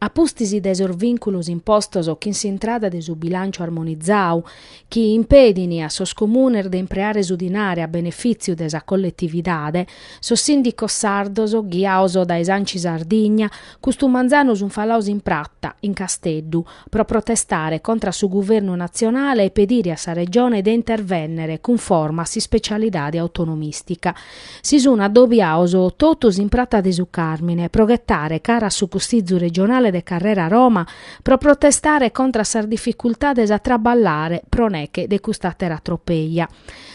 A pustis de sos vìnculos impostos chin s'intrada de su bilànciu armonizadu, chi impedint a sos comunes de impreare su dinare a benefìtziu de sa colletividade, sos sìndicos sardos, ghiados dae s'Anci Sardigna, custu manzanu sunt falados in prata, in Casteddu, pro protestare contra a su guvernu natzionale e pedire a sa Regione de intervènnere cunforma a s'ispecialidade autonomìstica. Si sun addobiaos totus in Prata de su Càrmine pro ghetare cara a su Cussizu Regionale de Carrera Roma pro protestare contra a sas dificultades a traballare pro neche de cust'àtera tropeja.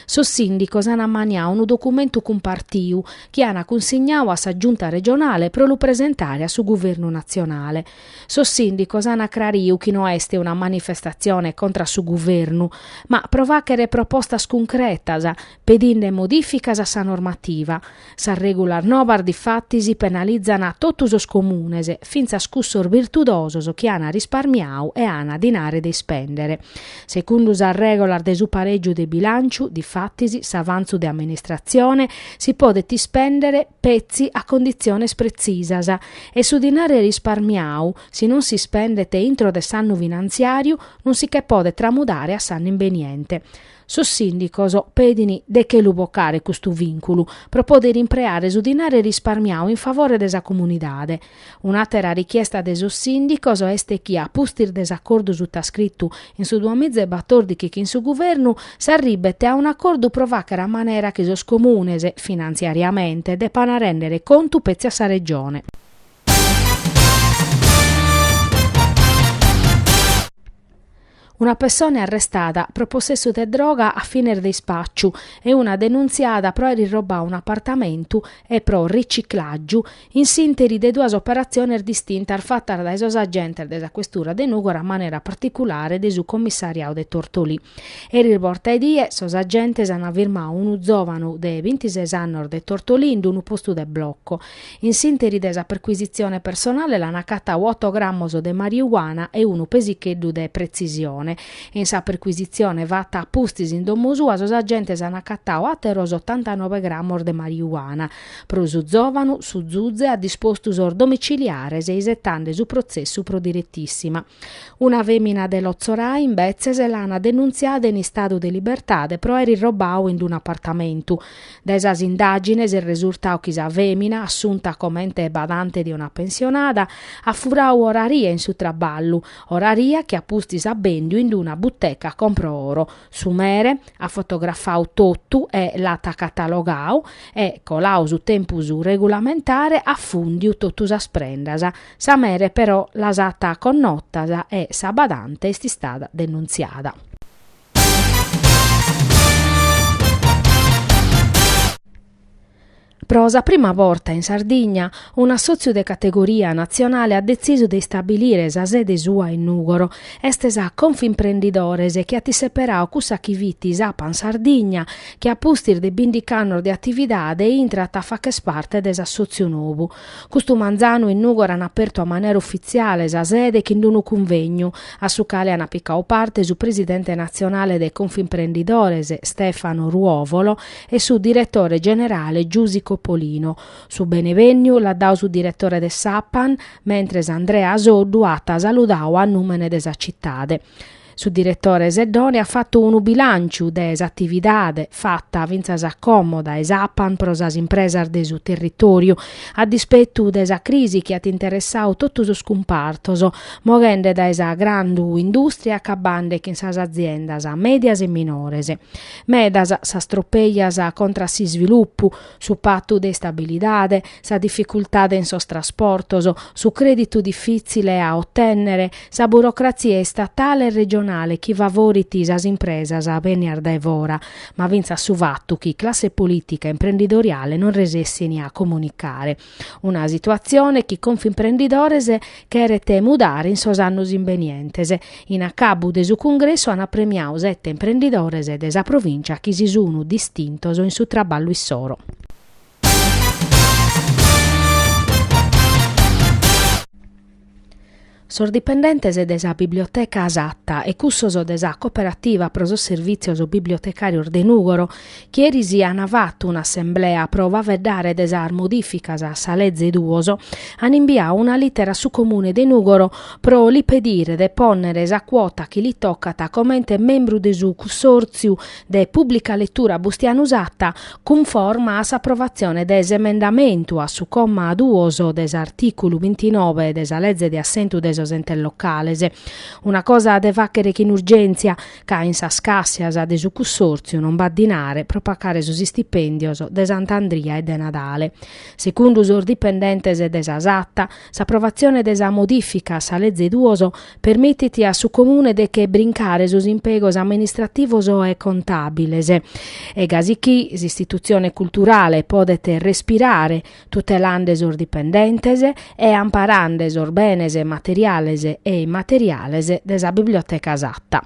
Sos sìndicos an ammaniau unu documentu cumpartiu chi an cunsignau a sa Giunta Regionale pro lu presentare a su Guvernu Natzionale. Sos sìndicos an acrariu chi no est una manifestatzione contra a su Guvernu, ma pro fàchere propostas cuncretas pedinde modìficas a sa normativa. Sas règulas nobas difatis penalizan totu sos comunes, fintzas cussos birtudosos chi an risparmiau e an dinare de ispèndere. Segundu sas règulas de su parègiu de bilànciu, difatis, s'avantzu de amministratzione si podet ispèndere petzi a conditziones pretzisas e su dinare risparmiau, si non si ispendet intro de s'annu finantziàriu, non si che podet tramudare a s'annu imbeniente. Sos sìndicos pedin de che lu bocare custu vìnculu pro poder impreare su dinare risparmiau in favore de sa comunidade. Un'àtera richiesta de sos sìndicos est chi a pustis de s'acordu sutascritu in su duamiza e batòrdichi chin su Guvernu, s'arribet a un'acordu pro fàchere a manera chi sos comunes, finantziariamente, depan rèndere contu petzi a sa Regione. Una pessone arrestada pro possessu de droga a fines de ispàciu e una denuntziada pro aer irrobadu un'apartamentu e pro riciclàgiu in s'ìnteri de duas operatziones distintas fatas dae sos agentes de sa questura de Nùgoro a manera particulare de su commissariadu de Tortolì. Eris borta 'e die sos agentes ant firmadu unu zòvanu de bintises annos de Tortolì in unu postu de bloco In s'ìnteri de sa perquisitzione personale l'an acatau oto grammos de mariuana e unu pesicheddu de pretzisione. In sa perquisitzione fata a pustis in domo sua sos agentes an acatau àteros otantanove grammos de mariuana. Pro su zòvanu, su Zuze at dispostu sos domiciliares isetande su protzessu pro diretissima. Una fèmina de Lotzorai, imbetzes, l'an denuntziada in istadu de libertade pro aer irrobau in unu apartamentu. Dae sas indàgines est resurtadu chi sa fèmina, assunta comente badante de una pensionada, at furau oraria in su traballu, oraria chi a pustis at bèndiu in una buteca compro oro. Su mere at fotografau totu e l'at catalogau e, colau su tempus regulamentare, at fùndiu totu sas prendas. Sa mere però las at connotas e sa badante est istada denuntziada. Pro sa prima borta in Sardigna, un'assòtziu de categoria natzionale at detzisu de istabilire sa sede sua in Nùgoro. Est sa Confimprendidores chi at seperau cussa chi fit s'Apan Sardigna, chi a pustis de bìndighi annos de atividade intrat a fàghere parte de s'assòtziu nou. Custu manzanu in Nùgoro an apertu a manera ufitziale sa sede chin d-unu cunvegnu, a su cale an picau parte su presidente natzionale de Confimprendidores, Stefano Ruovolo, e su diretore generale Giusi Coppolino. Su benevènniu l'at dau su diretore de s'Apan, mentres Andrea Soddu at saludau a nùmene de sa citade. Su diretore Seddone at fatu unu bilànciu de s'atividade fata fintzas a como dae s'Apan pro sas impresas de su territòriu, a dispetu de sa crisi chi at interessau totu sos cumpartos, moghende dae sa grandu indùstria e acabande chin sas aziendas mèdias e minores. Medas sas tropeas contra a s'isvilupu, su patu de istabilidade, sa dificultade in sos trasportos, su crèditu difìtzile a otènnere, sa burocratzia istatale e regionale chi favorit sas impresas bènnias dae fora, ma fintzas su fatu chi classe polìtica e imprendidoriale non resessint a comunicare. Una situatzione chi Confimprendidores cheret mudare in sos annos imbenientes. In acabu de su cungressu an premiau sete imprendidores de sa provìncia chi si sun distintos in su traballu issoro. Sos dipendentes de sa Biblioteca Satta e cussos de sa Cooperativa pro sos Servìtzios Bibliotecàrios de Nùgoro, chi eris an fatu un'assemblea pro faeddare de sas modìficas a sa Leze duos, an imbiau una lìtera a su Comune de Nùgoro pro li pedire de pònnere sa cuota chi li tocat comente membru de su cussòrtziu de pùblica letura Bustianu Satta cunforma a s'aprovatzione de s'emendamentu a su comma duos de s'artìculu bintinove de sa Leze de Assentu de sos Entes Locales. Una cosa de fàghere chin urgèntzia, ca in sas càssias de su cussòrtziu non b'at dinare pro pagare sos istipèndios de Sant'Andria e de Nadale. Segundu sos dipendentes de sa Satta, s'aprovatzione de sa modìfica a sa Leze duos permitit a su Comune de che brincare sos impegos amministrativos e contàbiles e gasi chi s'istitutzione culturale podet respirare tutelande sos dipendentes e amparande sos benes materiales e immateriales de sa Biblioteca Satta.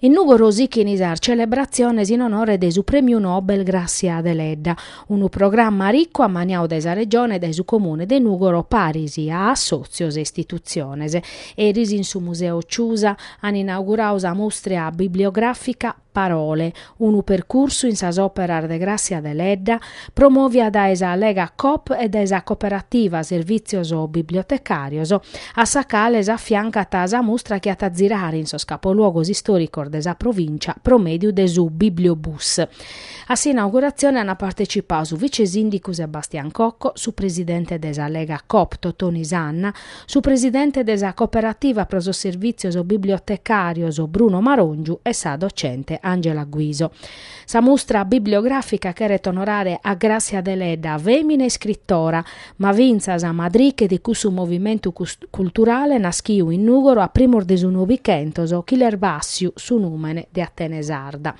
In Nùgoro sighint sas celebratziones in onore de su Prèmiu Nobel Gràssia Deledda, unu programma ricu ammaniau dae sa Regione e dae su Comune de Nùgoro paris a assòtzios e istitutziones. Eris in su Museu Ciusa an inaugurau sa mustria bibliogràfica Parole, Unu percursu in sas òperas de Gràssia Deledda, promovia dae sa Lega Coop e dae sa Cooperativa Servìtzios Bibliotecàrios, a sa cale s'afiancat sa mustra chi at a zirare in sos capoluogos istòricos de sa provìncia pro mèdiu de su Bibliobus. A s'inauguratzione ant partecipau su vicesìndicu Sebastian Cocco, su presidente de sa Lega Coop Totoni Sanna, Su presidente de sa Cooperativa pro sos Servìtzios Bibliotecàrios Bruno Maròngiu e sa docente Angela Guiso. Sa mustra bibliogràfica cheret onorare a Gràssia Deledda, fèmina iscritora, ma fintzas madriche de cussu movimentu culturale naschiu in Nùgoro a primos de su Novichentos chi l'est bàssiu su nùmene de Atene Sarda.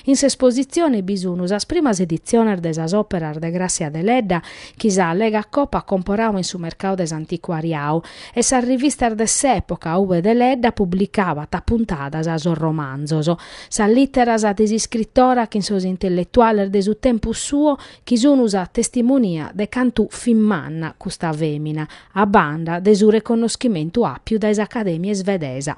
In s'espositzione bi sunt sas primas editziones de sas òperas de Gràssia Deledda chi sa Lega Coop at comporau in su mercau de s'anticuariau e sas rivistas de s'època ube Deledda publicabat a puntadas sos romanzos, sas lìteras de s'iscritora chin sos intelletuales de su tempus suo chi sunu sa testimonia de cantu fit manna custa fèmina, a banda de su reconnoschimentu àpiu dae s'Acadèmia isvedesa.